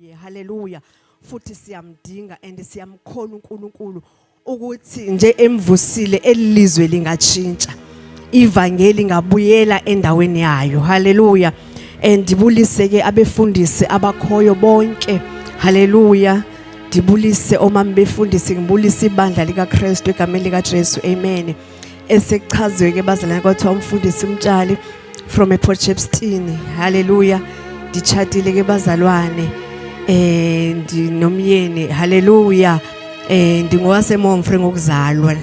Yeah, haleluya. Futhi siyamdinga and siyamkhona uNkulunkulu ukuthi nje emvusile elilizwe lingatshintsha. Ivangeli ngabuyela endaweni yayo. Haleluya. And ndibulise ke abefundisi abakhoyo bonke. Haleluya. Ndibulise omama befundisi ngibulise ibandla likaKristu egameni likaJesu. Amen. esekuchazwe ke bazalwane kwathiwa umfundisi umtshali from ePort Shepstone haleluya nditshatile ke bazalwane eh ndinomyeni haleluya eh ndingowase Momfre ngokuzalwa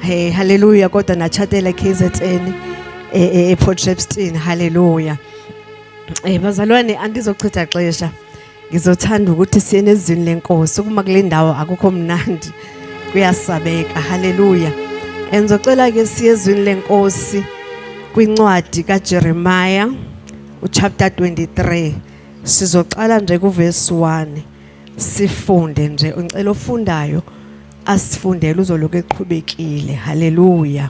hey eh, haleluya kodwa nachatela KZN eh ePort eh, Shepstone haleluya eh bazalwane andizochitha xesha Ngizothanda ukuthi siye nezwini lenkosi ukuma kule ndawo akukho mnandi kuyasabeka haleluya engizocela ke siye ezwini lenkosi kwincwadi kaJeremiah uchapter 23 sizoqala nje kuverse 1 sifunde nje ngicela ofundayo asifundele uzoloku eqhubekile haleluya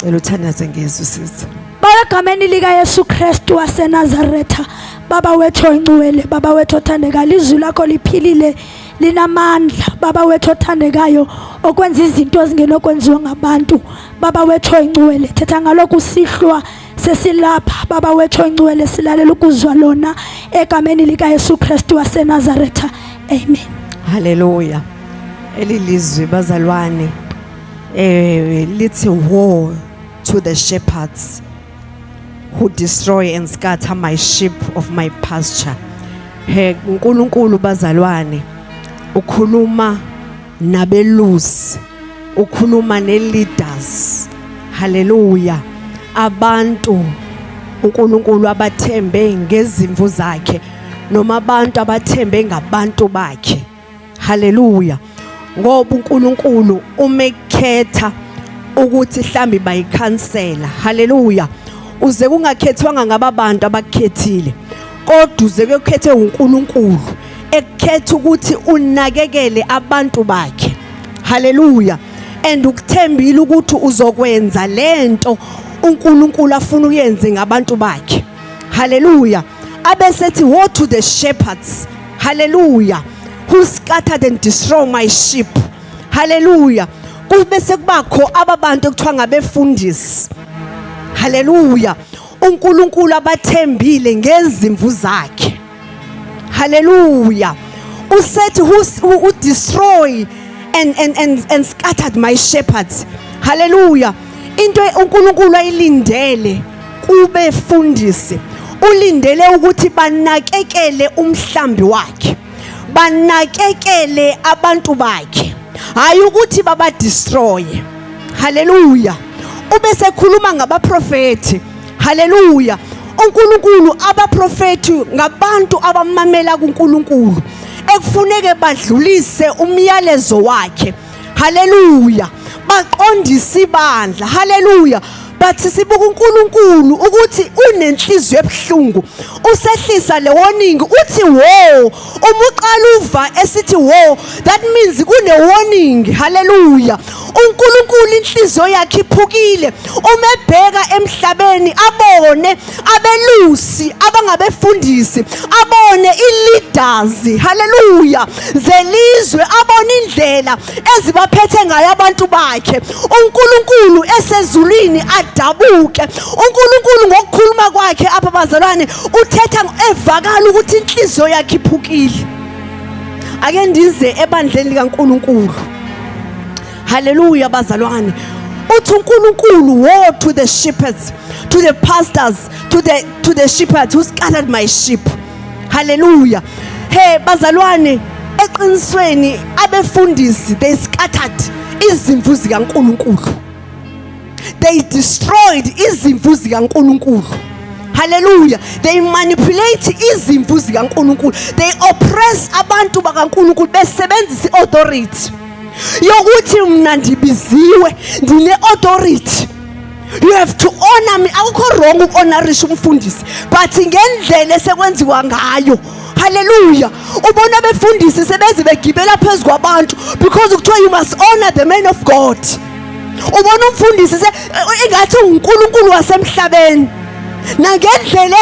Cela uthandaze ngezwi sisi. Baba egameni lika Yesu Kristu waseNazaretha baba wethu oyingcwele baba wethu othandekayo izwi lakho liphilile linamandla baba wethu othandekayo okwenza izinto ezingenokwenziwa ngabantu baba wethu oyingcwele thetha ngalokhu sihlwa sesilapha baba wethu oyingcwele silalela ukuzwa lona egameni likaYesu Kristu waseNazaretha amen haleluya elilizwi bazalwane eh lithi war to the shepherds who destroy and scatter my sheep of my pasture he uNkulunkulu bazalwane ukhuluma nabelusi ukhuluma neleaders haleluya abantu uNkulunkulu abathembe ngezimvu zakhe noma abantu abathembe ngabantu bakhe Haleluya. Ngoba uNkulunkulu umekhetha ukuthi mhlambi bayikhansela. Haleluya. Uze kungakhethwanga ngababantu abakhethile. Kodwa uze kukhethe uNkulunkulu ekukhetha ukuthi unakekele abantu bakhe. Haleluya. And ukuthembile ukuthi uzokwenza lento uNkulunkulu afuna uyenze ngabantu bakhe. Haleluya. Abesethi woe to the shepherds Hallelujah. Who scattered and destroy my sheep. Hallelujah. Kube sekubakho ababantu ekuthiwa ngabefundisi. Hallelujah. uNkulunkulu abathembile ngezimvu zakhe haleluya usethi who destroy and and and and scattered my shepherds haleluya into uNkulunkulu ayilindele kubefundisi ulindele ukuthi banakekele umhlambi wakhe banakekele abantu bakhe hayi ukuthi babadestroye haleluya ube sekhuluma ngabaprofethi haleluya uNkulunkulu abaprofethi ngabantu abamamela kuNkulunkulu ekufuneke badlulise umyalezo wakhe haleluya baqondisa ibandla haleluya bathi sibuka uNkulunkulu ukuthi unenhliziyo ebuhlungu usehlisa lewoningi uthi wo uma uqala uva esithi wo that means kunewoningi haleluya uNkulunkulu inhliziyo yakhe iphukile uma ebheka emhlabeni abone abelusi abangabefundisi abone ileaders haleluya zelizwe abone indlela ezibaphethe ngayo abantu bakhe uNkulunkulu esezulwini adabuke uNkulunkulu ngokukhuluma kwakhe apha bazalwane uthetha evakala ukuthi inhliziyo yakhe iphukile ake ndize ebandleni likaNkulunkulu Hallelujah bazalwane. Uthi uNkulunkulu woe to the shepherds, to the pastors, to the to the shepherds who scattered my sheep. Hallelujah. Hey bazalwane eqinisweni abefundisi they scattered izimvu zikaNkulunkulu. They destroyed izimvu zikaNkulunkulu. Hallelujah. They manipulate izimvu zikaNkulunkulu. They oppress abantu bakaNkulunkulu besebenzisa iauthority. yokuthi mna ndibiziwe ndine-authority you have to honor me akukho wrong uku-honorisha umfundisi but ngendlela esekwenziwa ngayo haleluya ubona abefundisi sebeze begibela phezu kwabantu because kuthiwa you must honor the man of god ubona umfundisi ingathi unkulunkulu wasemhlabeni nangendlela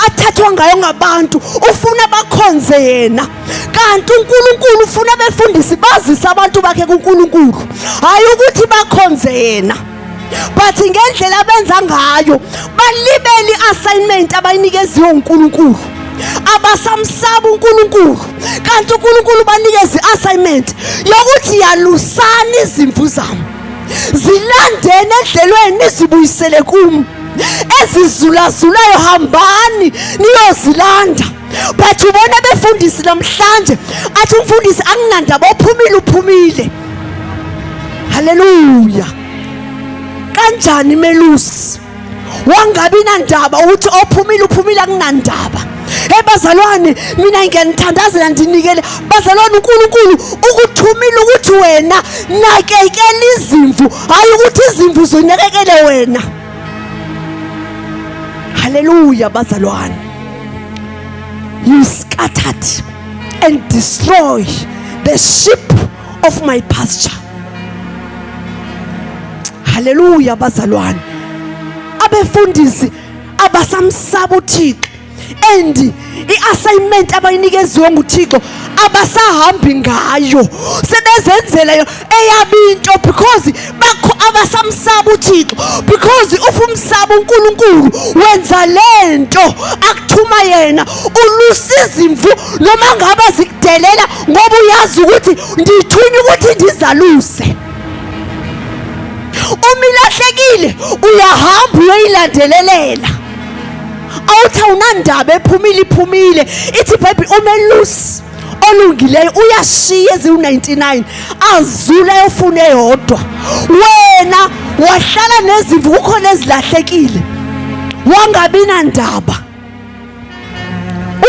athathwa ngayo ngabantu ufuna bakhonze yena kanti uNkulunkulu ufuna abefundisi bazise abantu bakhe kuNkulunkulu hayi ukuthi bakhonze yena but ngendlela abenza ngayo balibele i-assignment abayinikeziwe uNkulunkulu abasamsaba uNkulunkulu kanti uNkulunkulu banikeza i-assignment yokuthi yalusani izimvu zami zilandeni edlelweni nizibuyisele kumi ezizulazulayo hambani niyozilanda but ubona befundisi namhlanje athi umfundisi anginandaba ophumile uphumile haleluya kanjani melusi wangabi nandaba ukuthi ophumile uphumile akunandaba hey bazalwane mina ngiyanithandazela ndinikele bazalwane uNkulunkulu ukuthumile ukuthi wena nakekela izimvu hayi ukuthi izimvu zonakekele wena Hallelujah, bazalwane. You scattered and destroy the sheep of my pasture. Hallelujah, bazalwane. Abefundisi abasamsaba uThixo and i-assignment abayinikeziwe nguthixo abasahambi ngayo sebezenzela yo eyabo into because bakho abasamsaba uthixo because ufa umsaba unkulunkulu wenza le nto akuthuma yena ulusa izimvu noma ngabe zikudelela ngoba uyazi ukuthi ndithunywa ukuthi ndizaluse uma ilahlekile uyahamba uyoyilandelelela awuthi awunandaba ephumile iphumile ithi ibhayibhile umelusi olungileyo uyashiya eziwu-99 azule ayofuna eyodwa wena wahlala nezimvu kukhona ezilahlekile wangabi nandaba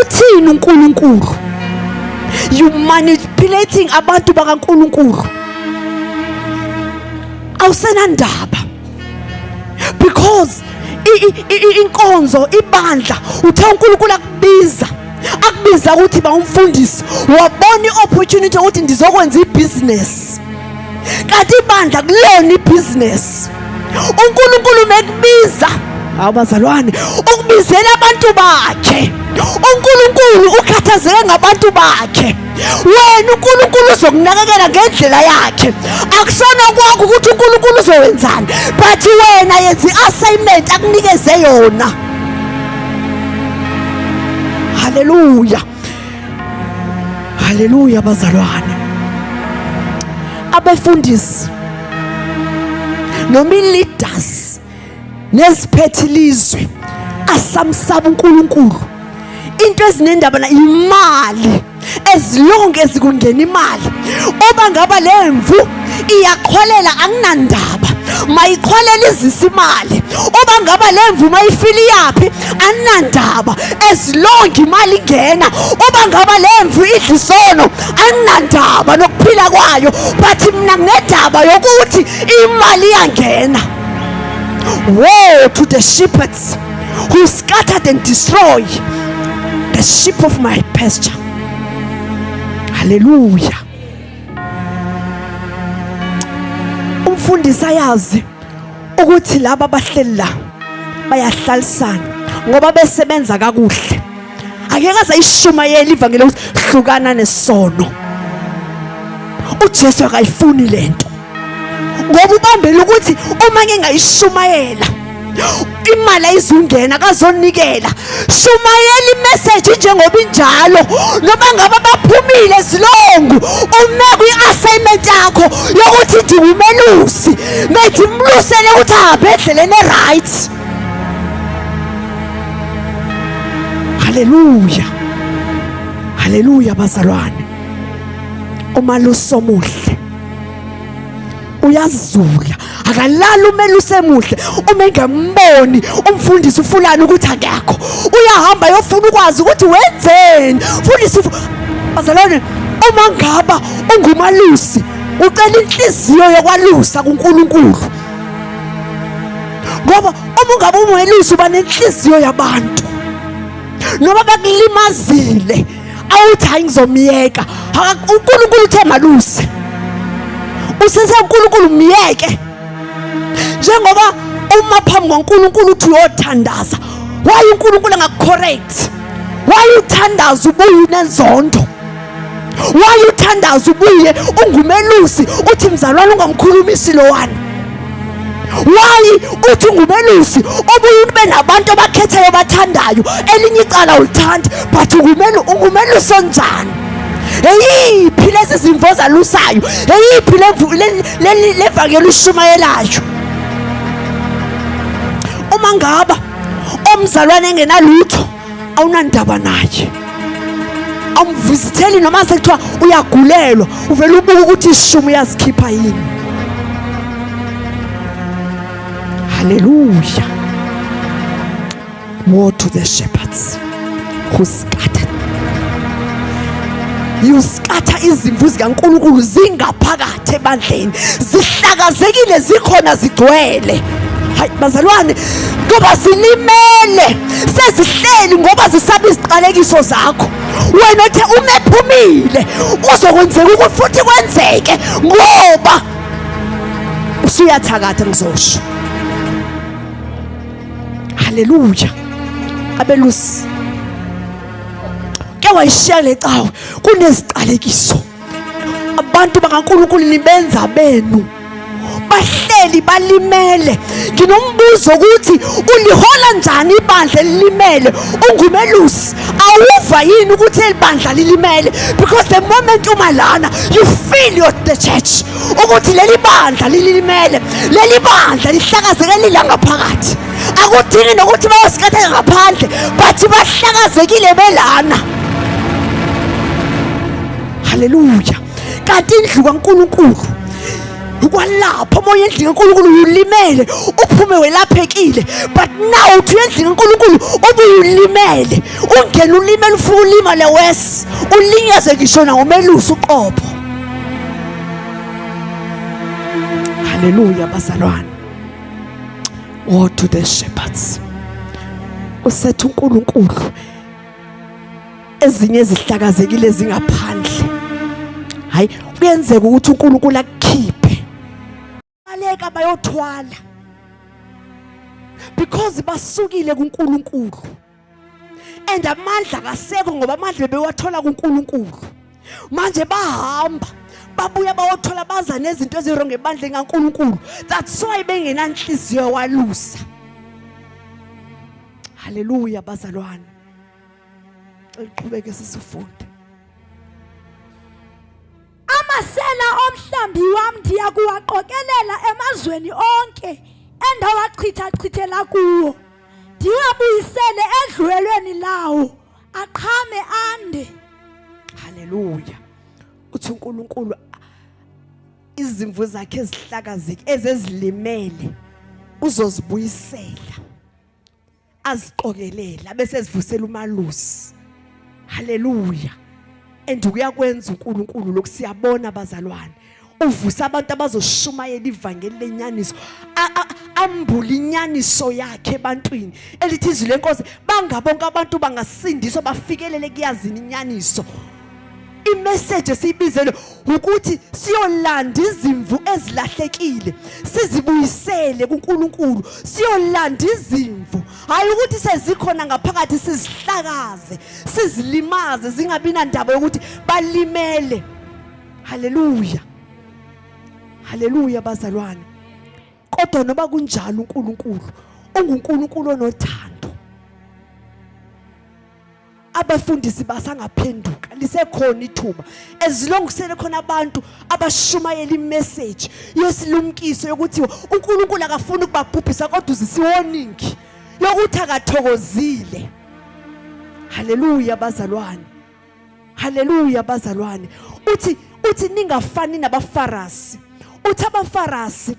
uthini uNkulunkulu you manipulating abantu bakaNkulunkulu awusenandaba because inkonzo ibandla uthe uNkulunkulu akubiza akubiza ukuthi ba umfundisi wabona iopportunity ukuthi ndizokwenza ibusiness kanti ibandla kulona ibusiness uNkulunkulu mekubiza abazalwane ukubizela abantu bakhe uNkulunkulu ukhathazeke ngabantu bakhe wena uNkulunkulu uzokunakekela ngendlela yakhe akusona kwakho ukuthi uNkulunkulu uzowenzani but wena yenza i-assignment akunikeze yona haleluya haleluya bazalwane abefundisi noma i-leaders neziphethe ilizwe asamsaba uNkulunkulu into ezinendaba na imali ezilonke ezikungena imali oba ngaba lemvu iyaqhwalela anginandaba mayiqhwalela izisa imali oba ngaba lemvu mayifile iyaphi anginandaba ezilonge imali ingena oba ngaba lemvu idla isono anginandaba nokuphila kwayo but mina nginedaba yokuthi imali iyangena Woe to the shepherds who scattered and destroy the sheep of my pasture. Hallelujah. Umfundisi ayazi ukuthi laba bahleli la bayahlalisana ngoba besebenza kakuhle angeke aze ayishumayele ivangeli ukuthi hlukana nesono uJesu akayifuni lento ngoba ubambele ukuthi uma ngingayishumayela imali ayizungena kazonikela shumayela imeseji njengoba injalo noma ngabe baphumile zilongu ume kwi-assignment yakho yokuthi ndiwumelusi methi mlusele ukuthi ahambe endleleni e-right Haleluya. Haleluya bazalwane. Uma lusomuhle uyazula akalali umele usemuhle uma engamboni umfundisi ufulani ukuthi akekho uyahamba yofuna ukwazi ukuthi wenzeni mfundisi bazalwane uma ngaba ungumalusi ucela inhliziyo yokwalusa kuNkulunkulu ngoba uma ungabe ungelusi uba nenhliziyo yabantu noma bakulimazile awuthi hayi ngizomyeka unkulunkulu uthe maluse usese unkulunkulu myeke njengoba uma phambi kwankulunkulu uthi uyothandaza waye unkulunkulu angakucorrect waye uthandaza ubuye unenzondo wayuthandaza ubuye ungumelusi uthi mzalwane ungamkhulumisi lowani wayi uthi ungumelusi obuye ube nabantu abakhetheyo bathandayo elinye icala ulithandi but ungumelusi onjani eyiphi lezi zimvo zalusayo eyiphi levangeli ushumayelayo uma ngaba omzalwane engenalutho awunandaba naye awumvisitheli noma sekuthiwa uyagulelwa uvele ubuke ukuthi ishumi uyazikhipha yini haleluya war to the shepherds who scattered you scatter izimvu zikaNkulunkulu zingaphakathi zithathe ebandleni zihlakazekile zikhona zigcwele hayi bazalwane ngoba zilimele sezihleli ngoba zisaba iziqalekiso zakho wena othe uma ephumile uzokwenzeka ukuthi futhi kwenzeke ngoba usuyathakatha ngizosho haleluya abelusi ke wayishiya le cawe kuneziqalekiso abantu bakaNkulunkulu nibenza benu bahleli balimele nginombuzo ukuthi ulihola njani ibandla elilimele ungumelusi awuva yini ukuthi elibandla lilimele because the moment uma lana you feel your the church ukuthi leli bandla lilimele leli bandla lihlakazeleli la ngaphakathi akudingi nokuthi bayosikhatheka ngaphandle but bahlakazekile belana haleluya kanti indlu kankulunkulu kwalapho omoya endlini kankulunkulu ulimele uphume welaphekile but now uthi uyendlini kankulunkulu ubuye ulimele ungena ulimele ufuna ulimale wes ulinyaze ngisho nangomelusi uqobo haleluya bazalwane war to the shepherds usetha unkulunkulu ezinye ezihlakazekile zingaphandle hayi kuyenzeka ukuthi uNkulunkulu akukhiphe baleka bayothwala because basukile kuNkulunkulu and amandla kasekho ngoba amandla bewathola kuNkulunkulu manje bahamba babuya bawothola baza nezinto ezirongo ebandla engaNkulunkulu that's why bengenanhliziyo walusa Haleluya bazalwane. Cela uqhubeke sisifunde. Amasela omhlambi wami ndiyakuwaqokelela emazweni onke endawachitha chithela kuwo. Ndiwabuyisele edlulelweni lawo aqhame ande. Haleluya. Uthi uNkulunkulu izimvu zakhe ezihlakazeke ezezilimele uzozibuyisela. aziqokelele abese ezivusela umalusi haleluya and uyakwenza uNkulunkulu lokhu siyabona abazalwane uvusa abantu abazoshumayela ivangeli lenyaniso ambula inyaniso yakhe ebantwini elithi izwi lenkosi bangabonke abantu bangasindiswa bafikelele kuyazini inyaniso imeseji esiyibizele ukuthi siyolanda izimvu ezilahlekile sizibuyisele kuNkulunkulu siyolanda izimvu hayi ukuthi sezikhona ngaphakathi sizihlakaze sizilimaze zingabi nandaba yokuthi balimele haleluya haleluya bazalwane kodwa noba kunjalo uNkulunkulu unguNkulunkulu onothando abafundisi basangaphenduka lisekhona ithuba ezilongisele khona abantu abashumayela imessage yesilumkiso yokuthi uNkulunkulu akafuni ukubabhubhisa kodwa uzisiwoningi yokuthi akathokozile haleluya bazalwane haleluya bazalwane uthi uthi ningafani nabafarasi uthi abafarasi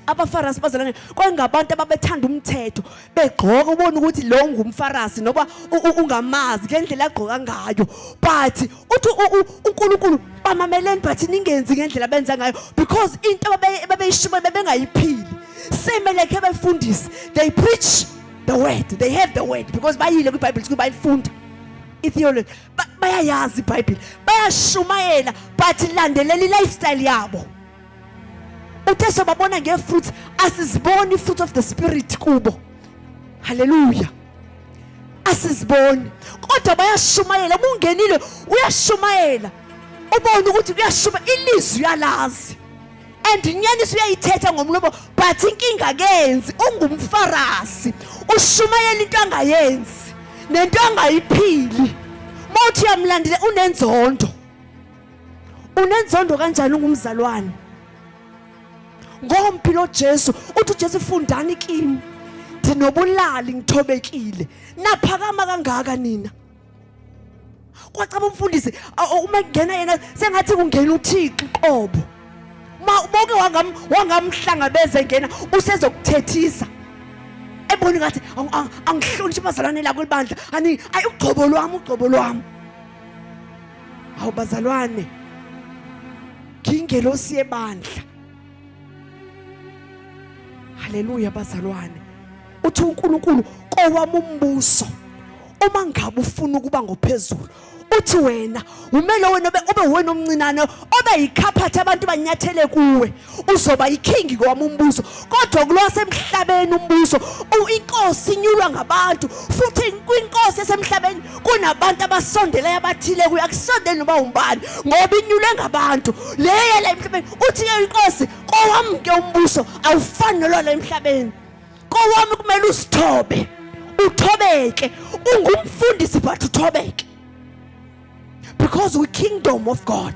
abafarasi bazalane kwangabantu ababethanda umthetho begqoka ubona ukuthi lo ngumfarasi noba ungamazi ngendlela agqoka ngayo but uthi uNkulunkulu bamameleni but ningenzi ngendlela benza ngayo because into ababeyishuma bebengayiphili same like abefundisi they preach the word they have the word because bayile kwiBible kuba bayifunda itheology bayayazi iBible bayashumayela but landelela ilifestyle yabo uthe sobabona ngee-fruits asiziboni i-fruit of the spirit kubo halleluya asiziboni kodwa bayashumayela uma ungenile uyashumayela ubone ukuthi kuyashuma ilizwi uyalazi and inyaniso uyayithetha ngomlomo but inkinga kenzi ungumfarasi ushumayela into angayenzi nento angayiphili mawuthi uyamlandile unenzondo unenzondo kanjani ungumzalwane ngomphi lo Jesu uthi uJesu fundani kimi ndinobulali ngithobekile naphakama kangaka nina kwacaba umfundisi uma kungena yena sengathi kungena uThixo qobo ma uboke wangam wangamhlangabeza engena usezokuthethisa eboni ngathi angihloniphi abazalwane la kwelibandla ani ayugcobo lwami ugcobo lwami Hawu bazalwane. Ngingelosi yebandla. Haleluya bazalwane. Uthi uNkulunkulu kowami umbuso uma ngabe ufuna ukuba ngophezulu uthi wena umele wena ube wena omncinane obe yikhaphathi abantu banyathele kuwe uzoba yiking kwami umbuso kodwa kulwasemhlabeni umbuso inkosi inyulwa ngabantu futhi kwinkosi esemhlabeni kunabantu abasondeleyo abathile kuyo akusondeli noba umbani ngoba inyulwe ngabantu leyo la emhlabeni uthi ke inkosi kowami ke umbuso awufani nolwala emhlabeni kowami kumele usithobe uthobeke ungumfundisi but uthobeke because we kingdom of god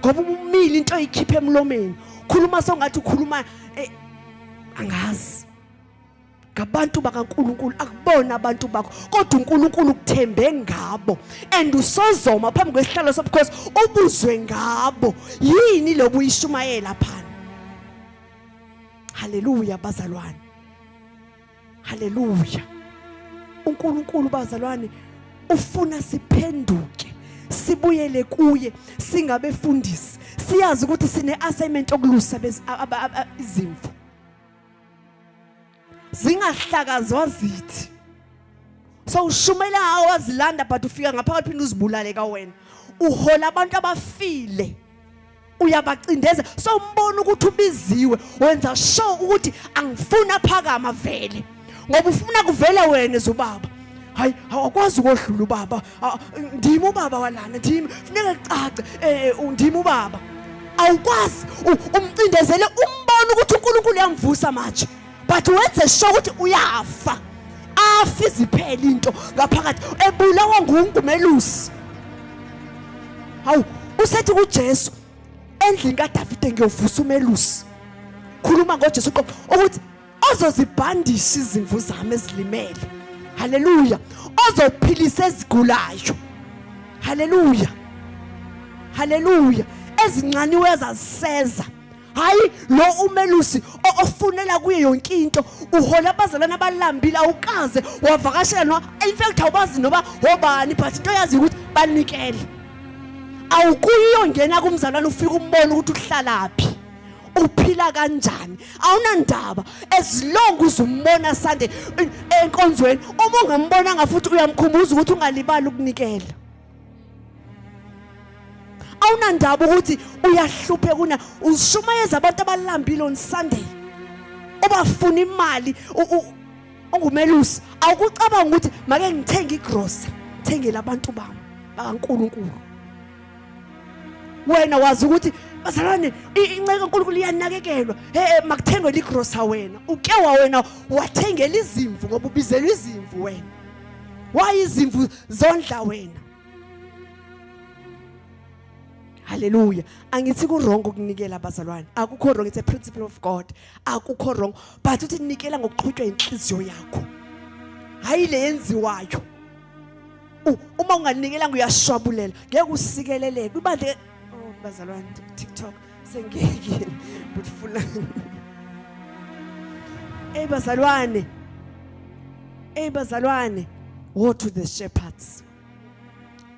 ngoba umile into oyikhipha emlomeni khuluma songathi ukhuluma eh, angazi ngabantu bakaNkuluNkulu akubona abantu bakho kodwa uNkuluNkulu ukuthembe ngabo and usozoma phambi kwesihlalo sobukhosi ubuzwe ngabo yini lobu uyishumayela phana haleluya bazalwane haleluya uNkulunkulu bazalwane ufuna siphenduke sibuyele kuye singabefundisi siyazi ukuthi sine assignment okulusa izimvu zingahlakazwa zithi so ushumela awazilanda but ufika ngaphakathi phinde uzibulale ka wena uhola abantu abafile uyabacindeza so umbona ukuthi ubiziwe wenza sure ukuthi angifuni aphakama vele ngoba ufuna kuvela wena zubaba hayi awakwazi ukodlula ubaba ndimi ubaba walana ndimi funeka cace eh, eh, ndimi ubaba awukwazi umcindezele umbona ukuthi uNkulunkulu uyamvusa manje but wenze sho ukuthi uyafa afi ziphele into ngaphakathi ebulawa ngungumelusi hawu usethi kuJesu endlini kaDavide ngiyovusa umelusi khuluma ngoJesu qobo ukuthi ozozibhandisha izimvu zami ezilimele haleluya ozophilisa ezigulayo haleluya haleluya ezincaniwe zaziseza hayi lo umelusi o- ofunela kuye yonke into uhola abazalwane abalambile awukaze wavakashela no in fact awubazi noba wobani but into yazi ukuthi banikele awukuyongena kumzalwane ufike umbone ukuthi uhlalaphi uphila kanjani awunandaba as long uzumbona sande eh, enkonzweni uma ungambonanga futhi uyamkhumbuza ukuthi ungalibali ukunikela awunandaba ukuthi uyahlupheka una ushumayeza abantu abalambile on Sunday ubafuna imali ungumelusi awukucabanga ukuthi make ngithenge igrocery ngithengele abantu bami bakaNkuluNkulu wena wazi ukuthi bazalwane inceke uNkulunkulu iyanakekelwa hey makuthengwe ligrocery wena uke wawena wathengela izimvu ngoba ubizelwe izimvu wena why izimvu zondla wena haleluya angithi ku-wrong ukunikela abazalwane akukho wrong it's a principle of god akukho wrong but uthi nikela ngokuqhutywa inhliziyo yakho hhayi le yenziwayo uma ungalinikela nguyashwabulela ngeke usikeleleke ibandla oh bazalwane tiktok sengiyekile but funa Ey bazalwane Ey bazalwane go to the shepherds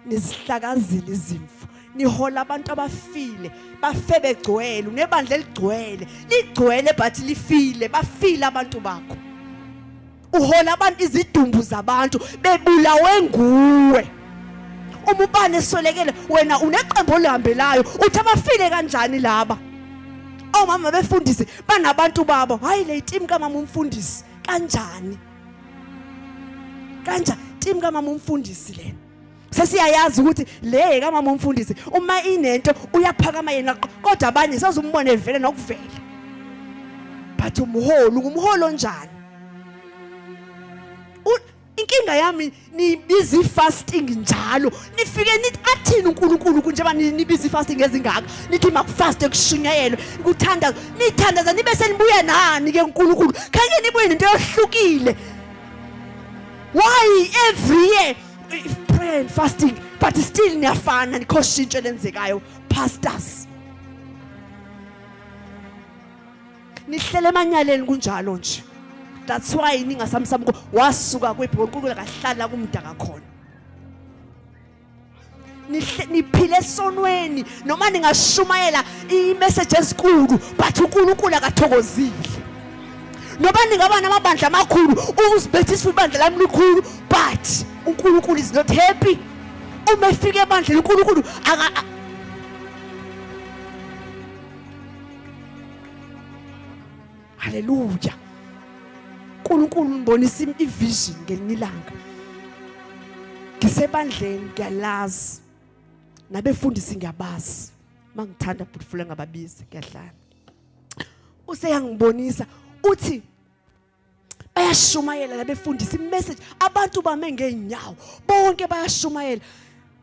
nizihlakazile izimfu nihola abantu abafile bafe begcwele unebandla eligcwele ligcwele but lifile bafile abantu bakho uhola abantu izidumbu zabantu bebulawe nguwe uma ubani eswelekele wena uneqembu olihambelayo uthi abafile kanjani laba omama befundisi banabantu babo hayi le team kamama umfundisi kanjani kanjani team kamama umfundisi lena sesiyayazi ukuthi le kamama umfundisi uma inento uyaphakama yena kodwa abanye sazombona evele nokuvela but umholi ngumholi onjani inkinga yami nibiza ifasting njalo nifike nithi athini uNkulunkulu kunjeba nibiza ifasting ezingaka nithi makufaste kushunyayelwe kuthanda nithandaza nibe senibuya nani ke uNkulunkulu khanye nibuye nento yohlukile why every year prayer and fasting but still niyafana nikho shintsho lenzekayo pastors nihlele emanyaleni kunjalo nje that's why ningasamsamuko wasuka kwebhoqukula kahlala kumdaka khona niphile esonweni noma ningashumayela imeseji ezinkulu but unkulunkulu akathokozile noba ningaba namabandla amakhulu uzibethisa ibandla lami likhulu but unkulunkulu is not happy uma efika ebandleni unkulunkulu haleluya unkulunkulu ngibonisa ivision ngelinye ilanga ngisebandleni ngiyalazi nabefundisi ngiyabazi uma ngithanda bhutfule ngababizi ngiyahlala useyangibonisa uthi bayashumayela labefundisa imessage abantu bame ngeenyawo bonke bayashumayela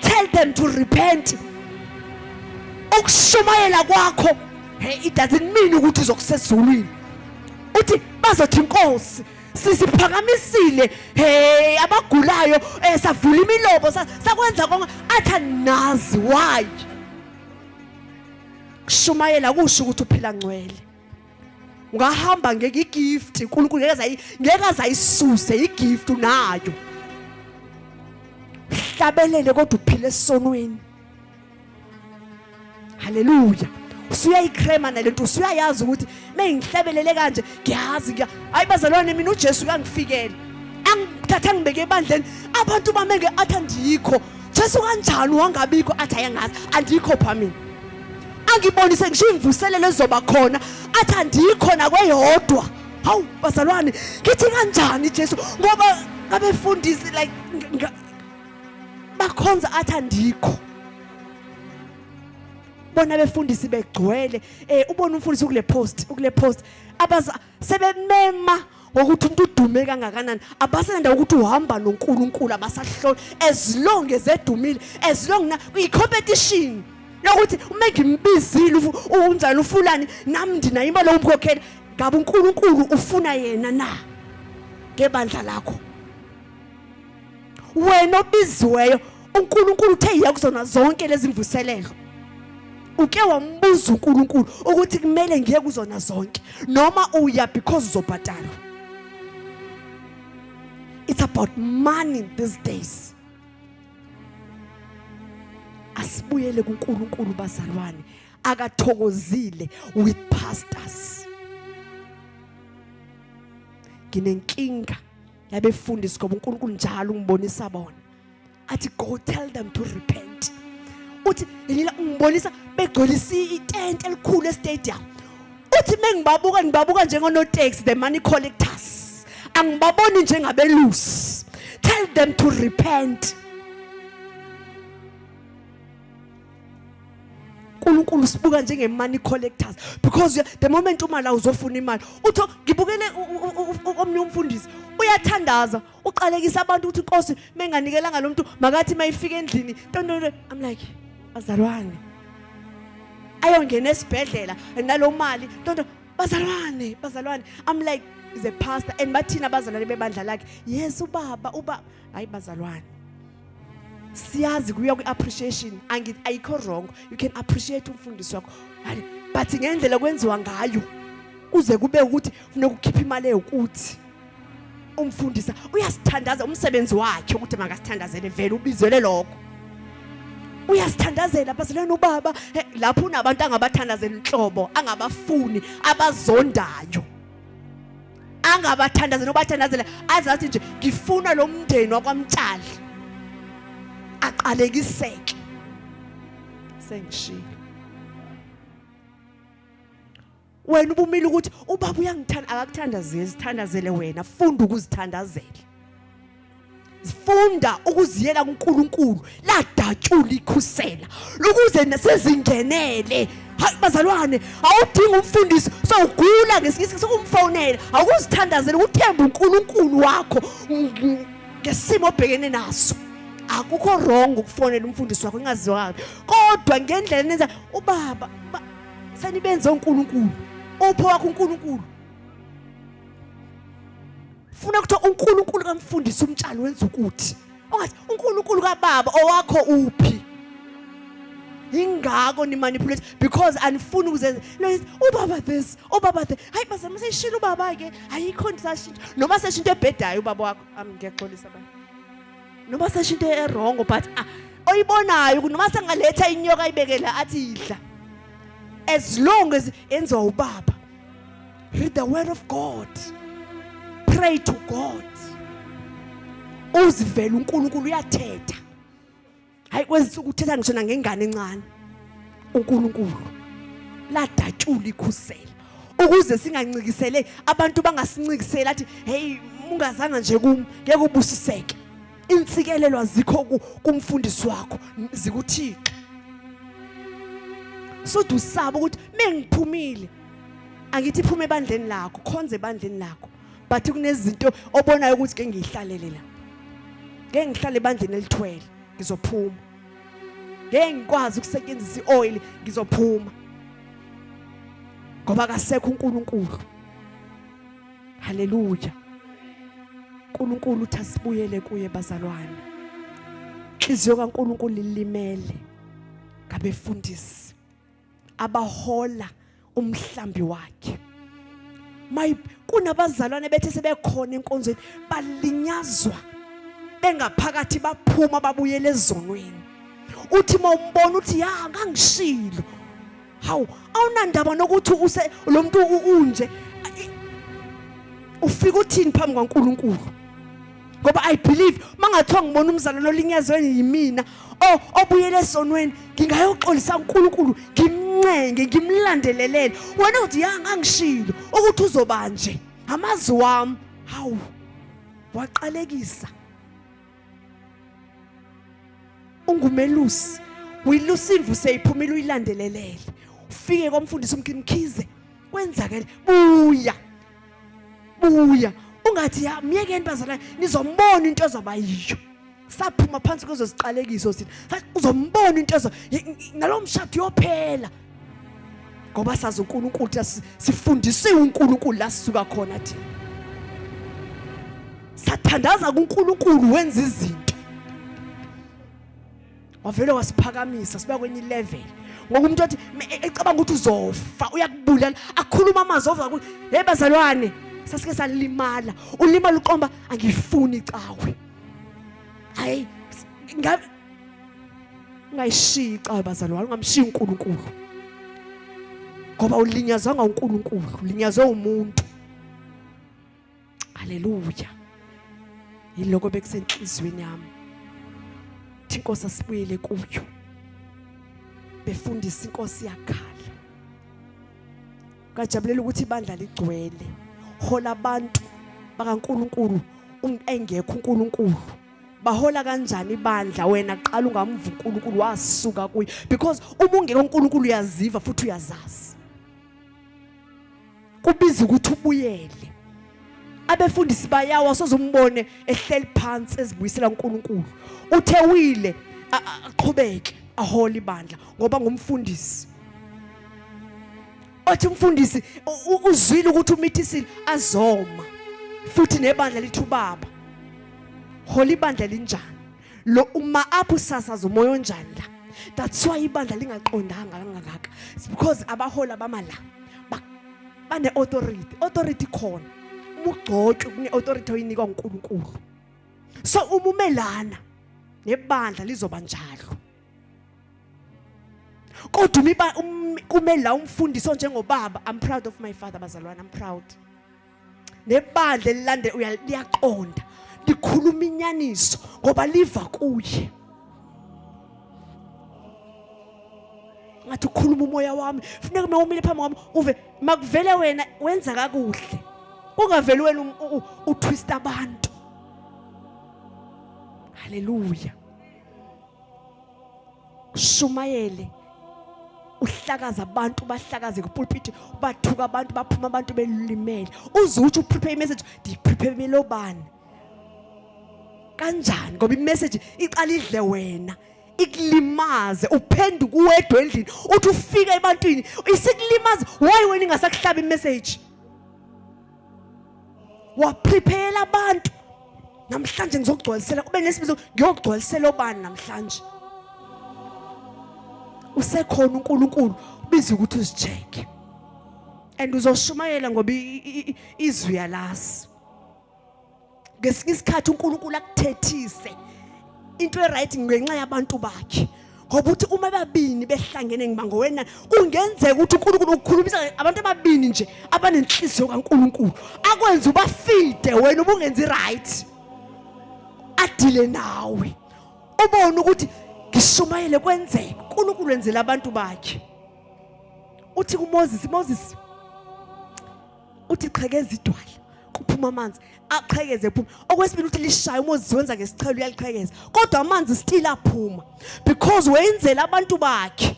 tell them to repent ukushumayela kwakho hey it doesn't mean ukuthi uzokusezulwini uthi bazothi inkosi sisiphakamisile hey abagulayo eh, savula imilobo sakwenza konke athi anazi why kushumayela kusho ukuthi uphila ngcwele ungahamba ngeke igift uNkulunkulu ngeke azayisuse igift unayo hlabelele kodwa uphile esonweni haleluya usuyayicrema nalento usuyayazi ukuthi mengihlabelele kanje ngiyazi ngiya hayi bazalwane mina uJesu kangifikele angithatha ngibeke ebandleni abantu bamenge athi andikho Jesu kanjani wangabikho athi ayangazi andikho phamini angibonise ngisho imvuselelo ezoba khona athi andikhona kweyodwa hawu bazalwane ngithi kanjani Jesu ngoba abefundisi like bakhonza athi andikho bona befundisi begcwele eh ubona umfundisi ukule post ukule post abaza sebemema ngokuthi umuntu udume kangakanani abasenanda ukuthi uhamba noNkulunkulu abasahloli as long as edumile as long na uyicompetition yokuthi uma ngimbizile unjani ufulani nami ndinayo imali yokumkhokhela ngabe uNkulunkulu ufuna yena na ngebandla lakho wena obiziweyo uNkulunkulu uthe yiya kuzona zonke lezi mvuselelo uke wambuza uNkulunkulu ukuthi kumele ngiye kuzona zonke noma uya because uzobhadalwa it's about money these days asibuyele kuNkulunkulu bazalwane akathokozile with pastors nginenkinga yabefundisi ngoba uNkulunkulu njalo ungibonisa bona athi go tell them to repent uthi yila ungibonisa begcwelisa itente elikhulu estadium uthi mengibabuka ngibabuka njengonotaxi the money collectors angibaboni njengabelusi tell them to repent uNkulunkulu sibuka njenge money collectors because the moment uma la uzofuna imali uthi ngibukele omnye umfundisi uyathandaza uqalekisa abantu ukuthi inkosi menganikela ngalomuntu makathi mayifika endlini tontonto i'm like bazalwane ayongena esibhedlela nalo mali tonto bazalwane bazalwane i'm like is a pastor and bathina abazalwane bebandla lakhe yes ubaba uba hayi bazalwane siyazi kuya kwi-appreciation ayikho wrong you can appreciate umfundisi wakho but ngendlela kwenziwa ngayo kuze kube ukuthi funeka ukhiphe imali ewukuthi umfundisa uyasithandaza umsebenzi wakhe ukuthi makasithandazele vele ubizele lokho uyasithandazela bazalwane ubaba lapho unabantu angabathandazela inhlobo angabafuni abazondayo angabathandazi nobathandazela azathi nje ngifuna lo mndeni wakwamtshali aqalekiseke sengishilo wena ubumile ukuthi ubaba uyangithanda akakuthandazeli sithandazele wena funda ukuzithandazela funda ukuziyela kuNkulunkulu ladatshula ikhusela ukuze nasizingenele hayi bazalwane awudingi umfundisi sowugula ngesinye isikhathi sokumfonela awukuzithandazela ukuthemba uNkulunkulu wakho ngesimo obhekene naso akukho wrong ukufonela umfundisi wakho ingaziwa kodwa ngendlela nenza ubaba senibenze uNkulunkulu upho wakho uNkulunkulu funa ukuthi uNkulunkulu kamfundisi umtshali wenza ukuthi ongathi uNkulunkulu kababa owakho uphi ingako ni manipulate because anifuni ukuzenza ubaba this ubaba the hayi baze museshila ubaba ke ayikho ndisashintsha noma seshinto ebhedayo ubaba wakho am ngiyaxolisa ba noma seshinto erong but ah, oyibonayo noma sengaletha inyoka ayibekela athi idla as long as enziwa ubaba Read the word of God. Pray to God. Uzivela uNkulunkulu uyathetha. Hayi kwezinsuku uthetha ngisho nangengane encane. uNkulunkulu ladatshula ikhusela ukuze singancikisele abantu bangasincisela athi hey ungazanga nje kum ngeke ubusiseke insikelelo azikho kumfundisi wakho zikuthixo sothi usaba ukuthi mengiphumile angithi phuma ebandleni lakho khonze ebandleni lakho but kunezinto obonayo ukuthi ke ngiyihlalele la ngeke ngihlale ebandleni elithwele ngizophuma ngeke ngikwazi ukusetshenzisa ioil ngizophuma ngoba kasekho uNkulunkulu haleluya uNkulunkulu uthi asibuyele kuye bazalwane inhliziyo kaNkulunkulu ilimele ngabefundisi abahola umhlambi wakhe my kunabazalwane bethe sebekhona enkonzweni balinyazwa bengaphakathi baphuma babuyele ezonweni uthi mawumbona uthi ya ngangishilo hawu awunandaba nokuthi use lo muntu unje ufika uthini phambi kwaNkulunkulu ngoba i believe mangathiwa ngibona umzalwane olinyazwe yimina o obuyele esonweni ngingayoxolisa uNkulunkulu ngimncenge ngimlandelelele wena uthi ya ngangishilo ukuthi uzobanje amazi wami hawu waqalekisa ungumelusi uyilusimvu seyiphumile uyilandelelele ufike komfundisi umkhize kwenzakele buya buya ungathi ya myekeni bazalwane nizombona into ezoba yiyo saphuma phansi kwezo ziqalekiso thina uzombona into ezo nalomshado yophela ngoba sazi uNkulunkulu ukuthi sifundisiwe uNkulunkulu la sisuka khona thina sathandaza kuNkulunkulu wenza izinto wavele wasiphakamisa siba kwenye level ngoba umuntu othi e, ecabanga ukuthi uzofa uyakubulala akhuluma amazwi ova ukuthi hey bazalwane sasike salimala ulimala uqomba angifuni icawe hayi ungayishiyi icawe bazalwane ungamshiyi uNkulunkulu ngoba ulinyazanga uNkulunkulu ulinyazwe umuntu haleluya yiloko bekusenhlizweni yami thi inkosi asibuyele kuyo befundisa inkosi yakhala kajabulela ukuthi ibandla ligcwele hola abantu bakaNkuluNkulu engekho uNkuluNkulu bahola kanjani ibandla wena qala ungamva uNkulunkulu wasuka kuye because uma ungeke uNkulunkulu uyaziva futhi uyazazi kubiza ukuthi ubuyele abefundisi bayawa sozombone ehleli phansi ezibuyisela uNkulunkulu uthe wile aqhubeke ahole ibandla ngoba ngumfundisi Wathi umfundisi uzwile ukuthi umithisile azoma futhi nebandla lithi ubaba hola ibandla linjani lo uma apho usasaza umoya onjani la that's why ibandla lingaqondanga kangaka because abaholi abama la bane authority authority khona ubugcotshwe kune authority oyinikwa uNkulunkulu so uma umelana nebandla lizoba njalo kodwa umiba um, kume la umfundisi onjengobaba i'm proud of my father bazalwane i'm proud nebandla elilande uyaliyaqonda likhuluma inyaniso ngoba liva kuye ngathi ukhuluma umoya wami funeka uma umile phambi kwami uve makuvele wena wenza kakuhle kungaveli wena um, utwista abantu haleluya ushumayele uhlakaza abantu bahlakaze kupulpiti bathuka abantu baphuma abantu belimele uze uthi uprepare imessage ndiyiprepare obani kanjani ngoba imessage iqala idle wena ikulimaze uphenduke uwedwa endlini uthi ufika ebantwini isikulimaza why wena ingasakuhlaba imessage waprepare abantu namhlanje ngizogcwalisela kube nesibizo ngiyogcwalisela obani namhlanje usekhona uNkulunkulu ubiza ukuthi uzicheke and uzoshumayela ngoba izwi yalazi ngesinye isikhathi uNkulunkulu akuthethise into eright ngenxa yabantu bakhe ngoba uthi uma babini behlangene ngiba ngowena kungenzeka ukuthi uNkulunkulu ukhulumisa abantu ababini nje abanenhliziyo kaNkulunkulu akwenza ubafide wena ubungenzi right adile nawe ubone ukuthi ngishumayele kwenzeke uNkulunkulu wenzela abantu bakhe uthi kuMoses Moses uthi qhekeza idwala kuphuma amanzi aqhekeze ephuma okwesibili uthi lishaya uma uziwenza ngesichelo uyaliqhekeza kodwa amanzi still aphuma because wenzela abantu bakhe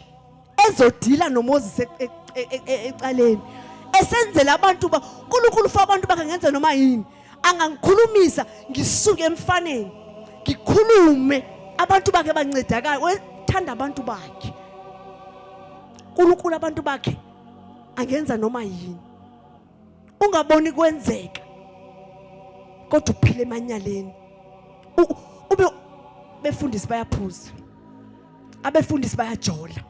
ezodila noMoses e- e- e- e- ecaleni esenzela abantu ba uNkulunkulu ufa abantu bakhe ngenze noma yini angangikhulumisa ngisuke emfaneni ngikhulume abantu bakhe bancedakala wethanda abantu bakhe uNkulunkulu abantu bakhe angenza noma yini ungaboni kwenzeka kodwa uphile emanyaleni ube befundisi bayaphuza abefundisi bayajola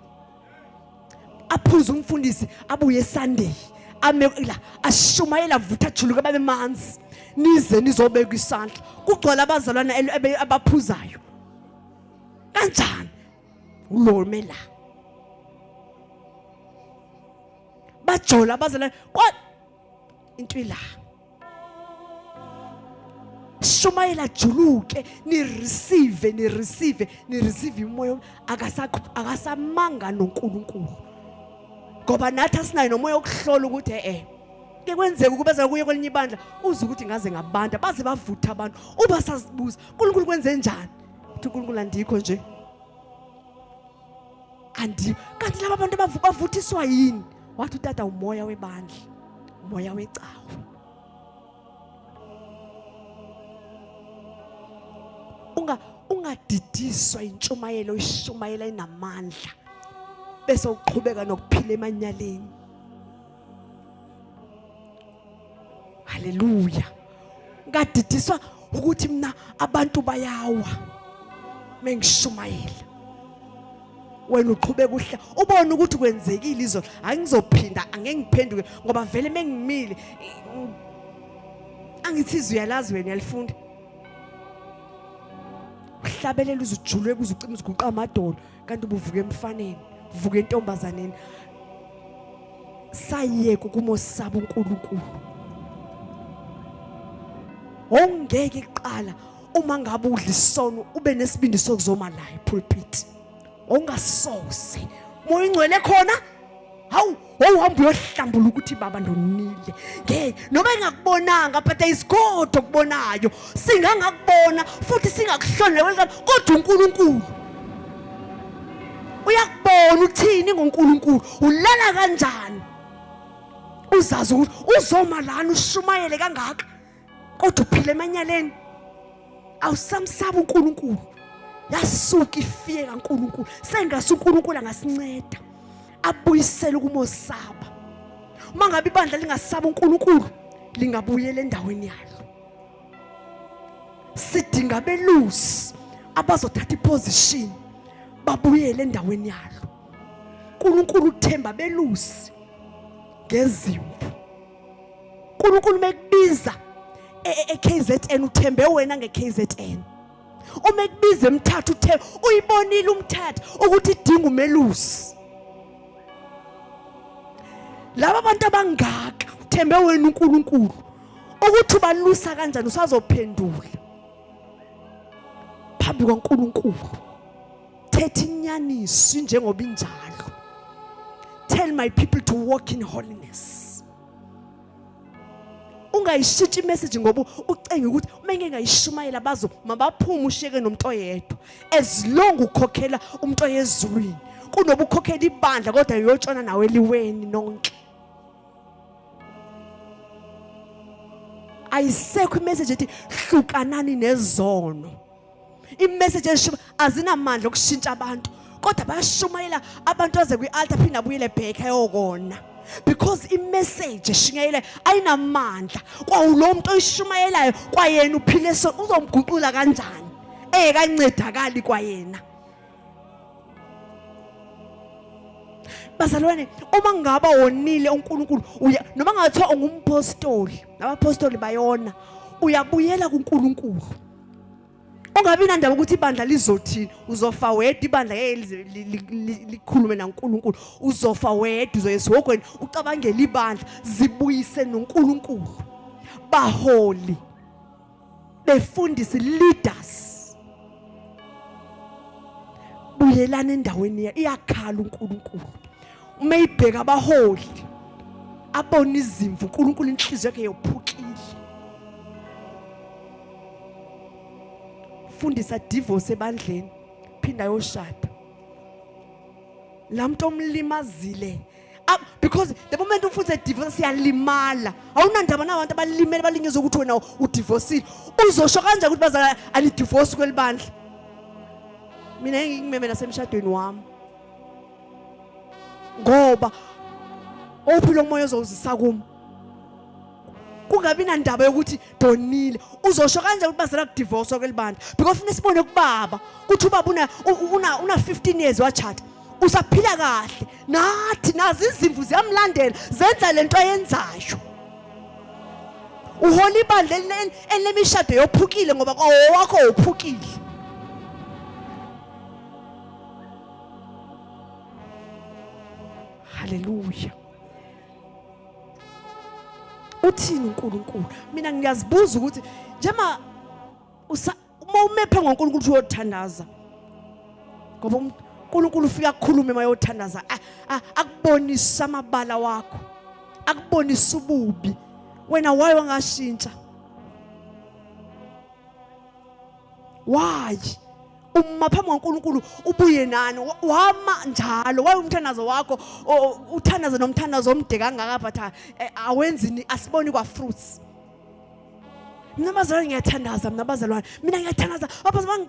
aphuze umfundisi abuye Sunday ame la ashumayela avutha juluka babe manzi nize nizobeka isandla kugcwala abazalwana abaphuzayo kanjani ulomela bajola bazela kwa into ila shumayela juluke ni receive ni receive ni receive umoya akasa akasamanga noNkulunkulu ngoba nathi asinayo nomoya okuhlola ukuthi eh, eh ke kwenzeka ukuba za kuye kwelinye ibandla uze ukuthi ngaze ngabantu baze bavutha abantu uba sazibuza uNkulunkulu kwenze njani ukuthi uNkulunkulu andikho nje andi kanti laba bantu bavuthiswa yini wathi utata umoya webandla umoya wecawe unga ungadidiswa intshumayelo oyishumayela inamandla bese uqhubeka nokuphila emanyaleni haleluya ngadidiswa ukuthi mina abantu bayawa mengishumayela wena uqhubeka uhla ubone ukuthi kwenzekile izolo angizophinda angeke ngiphenduke ngoba vele mengimile angithi izwi uyalazi wena uyalifunda uhlabelela uzujulwe kuze ucima uziguqa amadolo kanti ubuvuka emfaneni vuka entombazaneni sayeka ukumosaba uNkulunkulu ongeke kuqala uma ngabe udla isono ube nesibindi sokuzoma la epulpit ongasoze moya ingcwele khona hawu wawuhamba uyohlambula ukuthi baba ndonile ngeke noma engakubonanga but there is god okubonayo singangakubona futhi singakuhlonele kodwa unkulunkulu uyakubona uthini ngonkulunkulu ulala kanjani uzazi ukuthi uzoma lana ushumayele kangaka kodwa uphila emanyaleni awusamsaba uNkulunkulu yasuka ifiye kaNkulunkulu sengase uNkulunkulu angasinceda abuyisele ukumosaba uma ngabe ibandla lingasaba uNkulunkulu lingabuyela endaweni yalo sidinga abelusi abazothatha iposition babuyele endaweni yalo uNkulunkulu uthemba belusi ngezimvu uNkulunkulu mekubiza eKZN e, uthembe wena ngeKZN uma ekubiza emthatha uthe uyibonile umthatha ukuthi idinga umelusi laba bantu abangaka uthembe wena uNkulunkulu ukuthi ubalusa kanjani usazophendula phambi kwaNkulunkulu Thetha inyaniso njengoba injalo. Tell my people to walk in holiness. ungayishitshi imessage ngoba ucenge ukuthi uma ngeke ngayishumayela bazo mabaphume usheke nomuntu oyedwa as long ukhokhela umuntu oyezulwini kunoba ukhokhela ibandla kodwa yotshona nawe eliweni nonke ayisekho imessage ethi hlukanani nezono imessage esho azinamandla okushintsha abantu kodwa bayashumayela abantu aze kwi-altar phinde abuyele back ayokona because imessage eshunyayelayo ayinamandla kwawulo muntu oyishumayelayo kwayena uphile so uzomguqula kanjani engekancedakali kwayena bazalwane uma ngaba wonile uNkulunkulu uya noma ngathiwa ungumpostoli nabaphostoli bayona uyabuyela kuNkulunkulu ungabi nandaba ukuthi ibandla lizothini uzofa wedwa ibandla ngeke likhulume nankulunkulu uzofa wedwa uzoya esihogweni ucabangele ibandla zibuyise nonkulunkulu baholi befundisi leaders buyelana endaweni yakhe iyakhala uNkulunkulu uma ibheka abaholi abona izimvu uNkulunkulu inhliziyo yakhe yophukile fundisa divorce ebandleni phinda yoshada lamuntu omlimazile ah, because the moment umfundise divorce siyalimala awunandaba nabantu abalimele balingeza ukuthi wena udivorcile uzosho kanjani ukuthi bazala anidivorce kwelibandla mina engikimeme nasemshadweni wami ngoba ophi lo moya ozowuzisa kimi kungabi nandaba yokuthi donile uzosho kanjani ukuthi bazela kudivorce kwelibandla because funa sibone kubaba ukuthi ubaba una una una 15 years wachata usaphila kahle nathi nazi izimvu ziyamlandela zenza lento ayenzayo uhola ibandla elinemishado yophukile ngoba kwawowakho wophukile Hallelujah. uthini uNkulunkulu mina ngiyazibuza ukuthi njema uma umephe ngoNkulunkulu uyothandaza ngoba um, uNkulunkulu ufika akhulume mayothandaza akubonisa amabala wakho akubonisa ububi wena waye wangashintsha why uma phambi kwaNkulunkulu ubuye nani wama njalo wayumthandazo wakho uthandaze nomthandazo omde kangaka but eh, awenzini asiboni kwa fruits mina bazalwane ngiyathandaza mina bazalwane mina ngiyathandaza abazalwane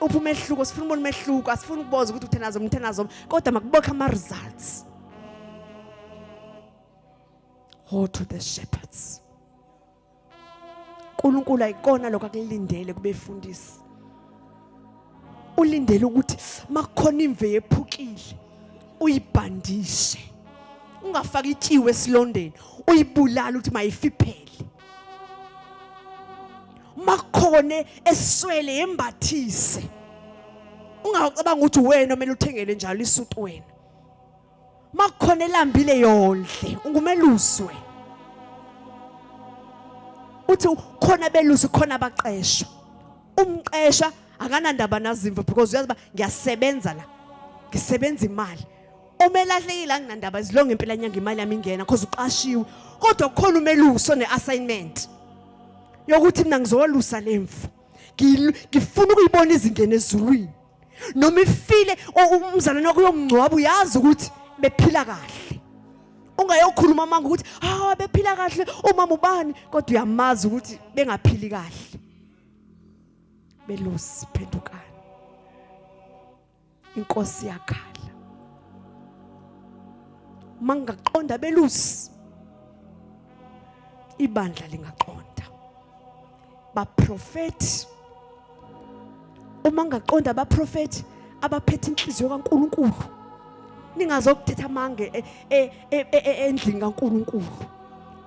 upha umehluko sifuna ubona umehluko asifuni ukuboza ukuthi uthandaza umthandaza kodwa makubokhe ama results go to the shepherds uNkulunkulu ayikona lokho akulindele kubefundisi ulindele ukuthi makukhona imve yephukile uyibhandishe ungafaki itshiwe esilondeni uyibulala ukuthi mayifiphele makukhone eswele yembathise ungacabanga ukuthi wena omele uthengele njalo isuti wena uma kukhona elambile yondle ungumeluswe uthi khona belusi khona abaqeshwa umqeshwa akanandaba nazimvo because uyazi uba ngiyasebenza la ngisebenza imali uma elahlekile anginandaba izilonga impela nyanga imali yami ingena because uqashiwe kodwa kukhona umelusi one-assignment yokuthi mina ngizokolusa le mfu ngifuna ukuyibona izingene ezulwini noma ifile umzalwane wakho uyomngcwaba uyazi ukuthi bephila kahle ungayokhuluma amanga ukuthi hawu ah, bephila kahle umama ubani kodwa uyamazi ukuthi bengaphili kahle belosi phendukani inkosi yakhala mangaqonda belusi ibandla lingaqonda baprofethi uma ngaqonda abaprofethi abaphethe inhliziyo kaNkuluNkulu ningazokuthetha amange e, e, e, endlini kaNkuluNkulu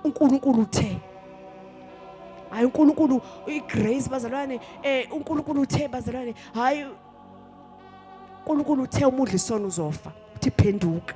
uNkulunkulu uthe hayi uNkulunkulu igrace bazalwane eh uNkulunkulu uthe bazalwane hayi uNkulunkulu uthe umudla isono uzofa uthi phenduka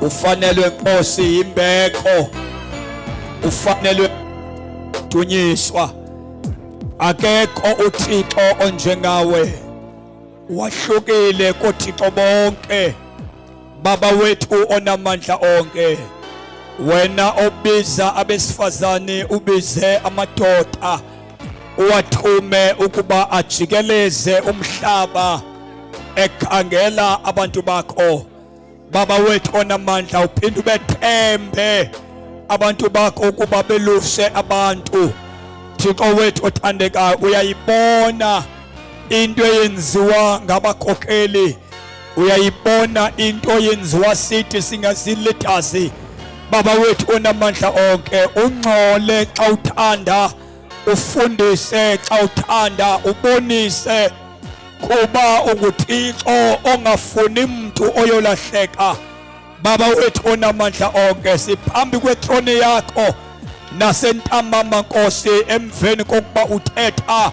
ufanelwe Nkosi yimbeko ufanelwe dunyiswa akekho uThixo onjengawe wahlukile koThixo bonke baba wethu onamandla onke wena obiza abesifazane ubize amadoda uwathume ukuba ajikeleze umhlaba ekhangela abantu bakho baba wethu onamandla uphinde ubethembe abantu bakho ukuba beluse abantu thixo wethu othandekayo uyayibona into eyenziwa ngabakhokheli uyayibona into yenziwa sithi singazilethazi baba wethu onamandla onke ungcole xa uthanda ufundise xa uthanda ubonise kuba unguthixo ongafuni mntu oyolahleka baba wethu onamandla onke siphambi kwetrone yakho nasentambama nkosi emveni kokuba uthetha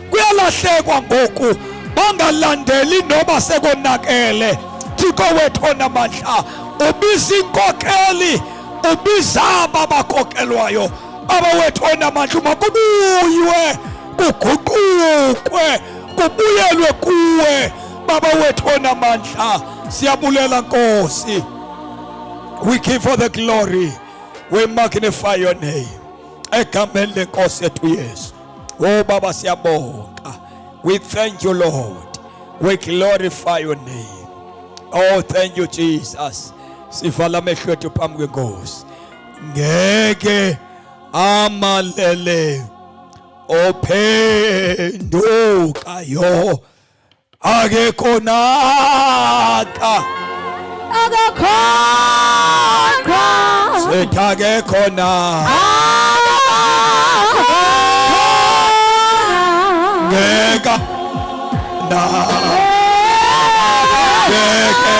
kuyalahlekwa ngoku bangalandeli noba sekonakele thixo wethu onamandla ubiza inkokeli ubiza aba bakokelwayo baba wethu onamandla uma kubuywe kuguqukwe kubuyelwe kuwe baba wethu onamandla siyabulela nkosi we give for the glory we magnify your name egameni lenkosi yethu yesu Oh Baba siyabonga. We thank you Lord. We glorify your name. Oh thank you Jesus. Sivala amehlo ethu phambi kwenkosi. Ngeke amalele ophendukayo akekho naka akekho sethi akekho naka ngeka na ngeke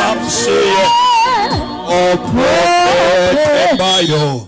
amsiye ophethe bayo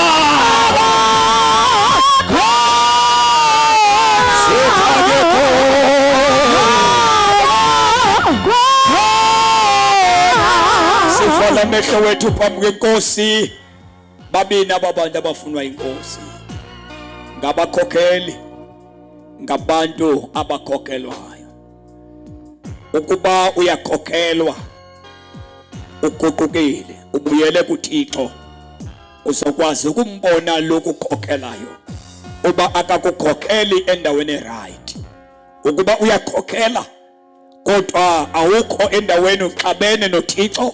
Sivala amehlo wethu phambi kwenkosi. Babini ababantu abafunwa inkosi. Ngabakhokheli ngabantu abakhokhelwayo. ukuba uyakhokhelwa uguqukile ubuyele kuThixo uzokwazi ukumbona lokhu ukhokhelayo uba akakukhokheli endaweni right ukuba uyakhokhela kodwa awukho endaweni uxabene noThixo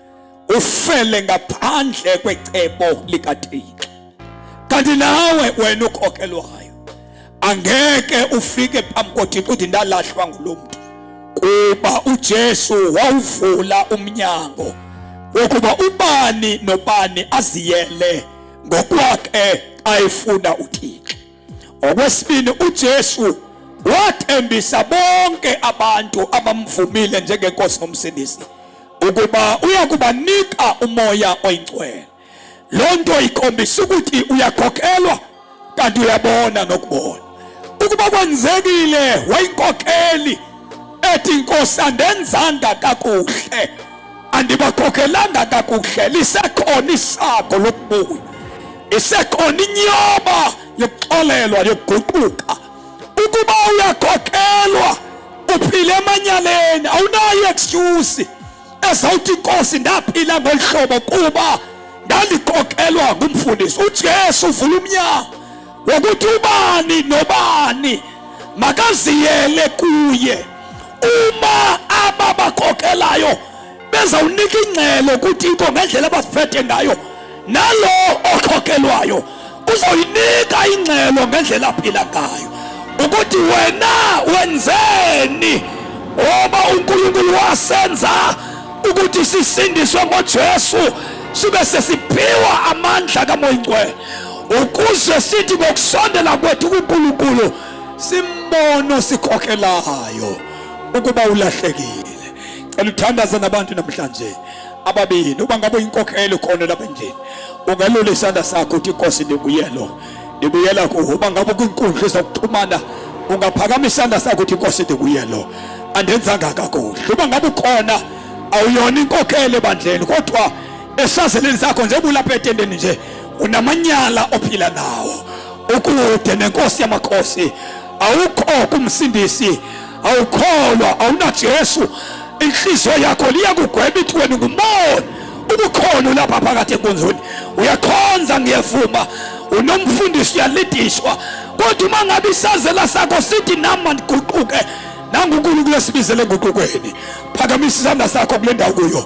ufele ngaphandle kwecebo likaThixo kanti nawe wena ukhokelwayo angeke ufike phambi koThixo uthi ndalahlwa ngulomntu kuba uJesu wawuvula umnyango wokuba ubani nobani aziyele ngokwakhe ayefuna uThixo Okwesibili uJesu wathembisa bonke abantu abamvumile njengenkosi nomsindisi ukuba uyakubanika umoya oyingcwele. Lonto ikhombisa ukuthi uyakhokhelwa kanti uyabona nokubona. Ukuba kwenzekile wayinkokheli ethi inkosi andenzanga kakuhle andibakhokelanga kakuhle lisekhona isago lokubuya isekhona inyoba yokuxolelwa yokuguquka ukuba uyakhokhelwa uphile emanyaleni awunayo excuse ezawuthi inkosi ndaphila ngolu hlobo kuba ndandikhokelwa ngumfundisi ujesu uvula umnyango wokuthi ubani nobani makaziyele kuye uma ababakhokhelayo bezawunika ingcelo ukuthi ikho ngendlela abasiphethe ngayo nalo okhokhelwayo uzoyinika ingcelo ngendlela aphila ngayo ukuthi wena wenzeni ngoba uNkulunkulu wasenza ukuthi sisindiswe ngoJesu sibe sesiphiwa amandla kaMoya oNgcwele ukuze sithi ngokusondela kwethu kuNkulunkulu simbone osikhokhelayo ukuba ulahlekile cela uthandaze nabantu namhlanje ababini uba ngabe uyinkokhelo khona lapha endlini ungelula isandla sakho uthi inkosi ndibuyelo ndibuyela kuwe uba ngabe kwinkundla ezokuxhumana ungaphakama isandla sakho uthi inkosi ndibuyelo andenzanga kakuhle uba ngabe ukhona awuyona inkokhelo ebandleni kodwa esazeleni sakho njengoba ulapha etendeni nje unamanyala ophila nawo ukude nenkosi yamakhosi awukho kumsindisi awukholwa awunajesu inhliziyo yakho liyakugweba ithi wena ungumona ubukhona ulapha phakathi enkonzweni uyakhonza ngiyevuma unomfundisi uyalidishwa kodwa uma ngabe isazela sakho sithi nama ndiguquke nangunkulunkulu esibizele enguqukweni phakamisa isandla sakho kule ndawo kuyo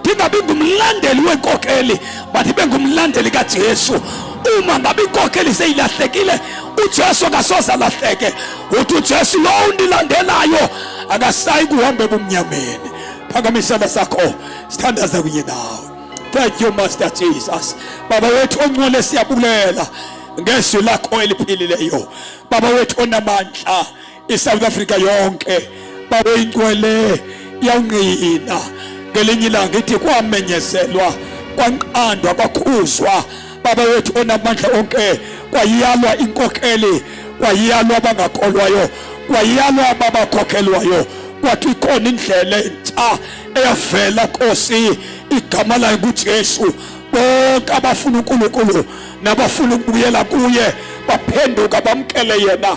ndingabi ngumlandeli wenkokheli but ibe ngumlandeli kajesu uma ngabe inkokheli seyilahlekile ujesu akasoze alahleke uthi ujesu lo undilandelayo akasayi kuhamba ebumnyameni phakamisela sakho sithandaza kunye nawe thank you master jesus baba wethu ongcwele siyabulela ngezwi lakho eliphilileyo baba wethu onamandla isouth africa yonke babeyigcwele yawungqina ngelinye ilanga ithi kwamenyezelwa kwanqandwa kwakhuzwa baba wethu onamandla onke kwayiyalwa inkokheli kwayiyalwa abangakolwayo kwayiyalwa ababakhokhelwayo kwathi ikhona indlela entsha eyavela nkosi igama layo kujesu bonke abafuna unkulunkulu nabafuna ukubuyela kuye baphenduka bamkele yena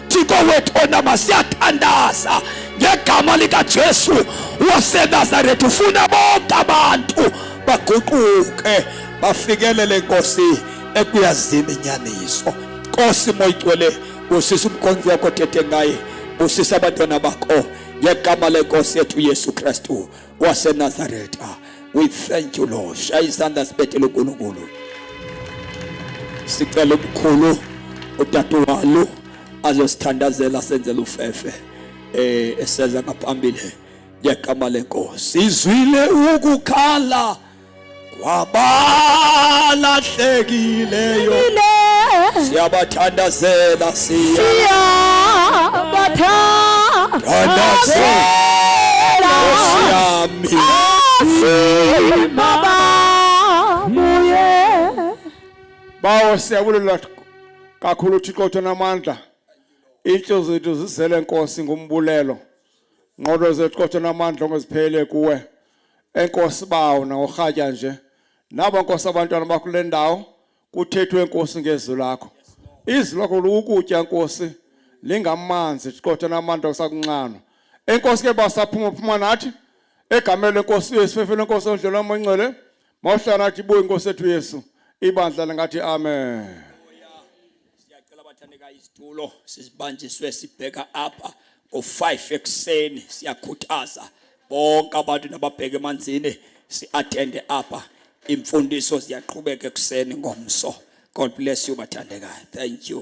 Thixo wethu onama siyathandaza ngegama likaJesu waseNazaretha ufuna bonke abantu baguquke bafikelele Nkosi ekuyazini inyaniso Nkosi moyigcwele busisa umkhonzi wakho thethe ngaye busisa abantwana bakho ngegama lenkosi yethu Yesu Kristu waseNazaretha. Ah, we thank you Lord. Shaya isandla sibethele uNkulunkulu. Sicela umkhulu udadewalo azosithandazela senzele ufefe eh eseza ngaphambili ngegama lenkosi. Izwile ukukhala kwabalahlekileyo siyabathandazela siyabathandazela siyami bawo siyabulela kakhulu thixo uthi namandla iintliziyo zethu zizele nkosi ngumbulelo nqodo zethu kodwa namandla ongeziphelele kuwe enkosi bawo nangorhatya nje nabo nkosi abantwana bakho kule ndawo kuthethwe enkosi ngezwi lakho izwi lakho lokukutya nkosi lingamanzi qotha namandla kusakunxanwa enkosi ke basaphuma phuma nathi egameni lenkosi uyesu fefele enkosi ondlela omoncwele mawuhlala nathi buye inkosi ethu yesu ibandla lingathi amen Siyacela abathandekayo isitulo sizibanjiswe sibheka apha ngo-5 ekuseni siyakhuthaza bonke abantu nababheke emanzini si-athende apha imfundiso ziyaqhubeka ekuseni ngomso god bless you bathandekayo thank you